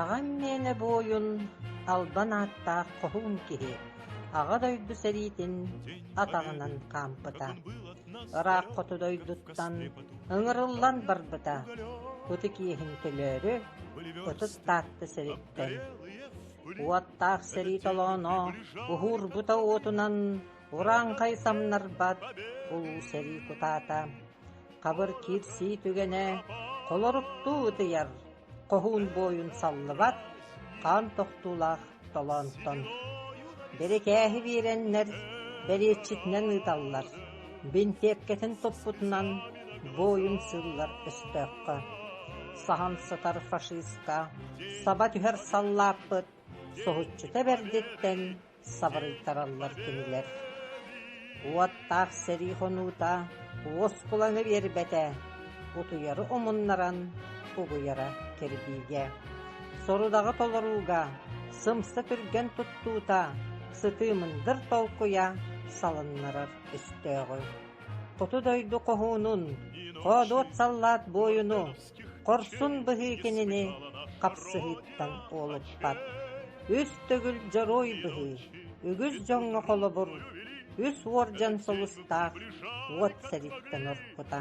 Аҕам мээнэ бу ойун албан ааттаах хоһуун киһи Аҕа дойду сэриитин атаҕынан хаампыта. Ырааххыту дойдуттан ыҥырыллан барбыта. Ытык иэһин төлөөрү, ытыс Таатта сэриттэн. Уоттаах сэрии толооно уһуурбута уотунан урааҥхай самнарбат улуу сэрии кутаата, хабыр киирсии түгэнэ холоруктуу ытыйар, хоһуун буойун саллыбат хаан тохтуулаах толоонтон. Бирикээһи биэрэннэр, бэриэтчитинэн ыыталлар. Бинтиэккэтин туппутунан бу ойун сыыллар өстөөххө, саһан сытар фашиста, саба түһэр саллааппыт, соһуччута бэрдиттэн сабырыйтараллар кинилэр. Уоттаах сэрии хонуута уоскулаҥы биэрбэтэ, утуйары умуннаран угуйара кирбиигэ, сорудаҕы толорууга сымса түргэн туттуута, сытыымындыр толкуйа салыннарар өстөөҕү. Хоту дойду хоһуунун, хоодуот саллаат буойуну, хорсун быһыы кинини хапсыһыыттан уолуппат. Үс төгүл дьоруой быһыы, үгүс дьоҥҥо холобур, үс уордьан сулустаах уот сэриттэн орпута.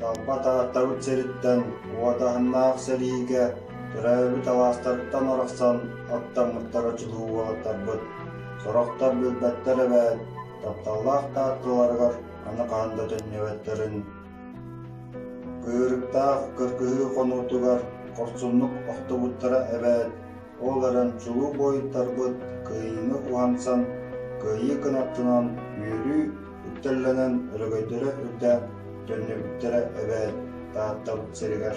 Талба Тааттабыт сириттэн уотаһыннаах сэриигэ төрөөбүт алаастарыттан арахсан аттаммыттара чулуу уолаттарбыт. Сорохтор билбэттэр эбээт, тапталлаах таатталарыгар аны хаһан да төннүбэттэрин Быырыктаах кыргыһыы хонуутугар хорсуннук охтобуттара эбээт, ол эрэн чулуу буойуттарбыт кыайыыны уһансан, кыайыы кынаттынан үөрүү үктэллэнэн өлөгөйдөрө үрдээн төннүбүттэрэ эбээт Тааттабыт сиригэр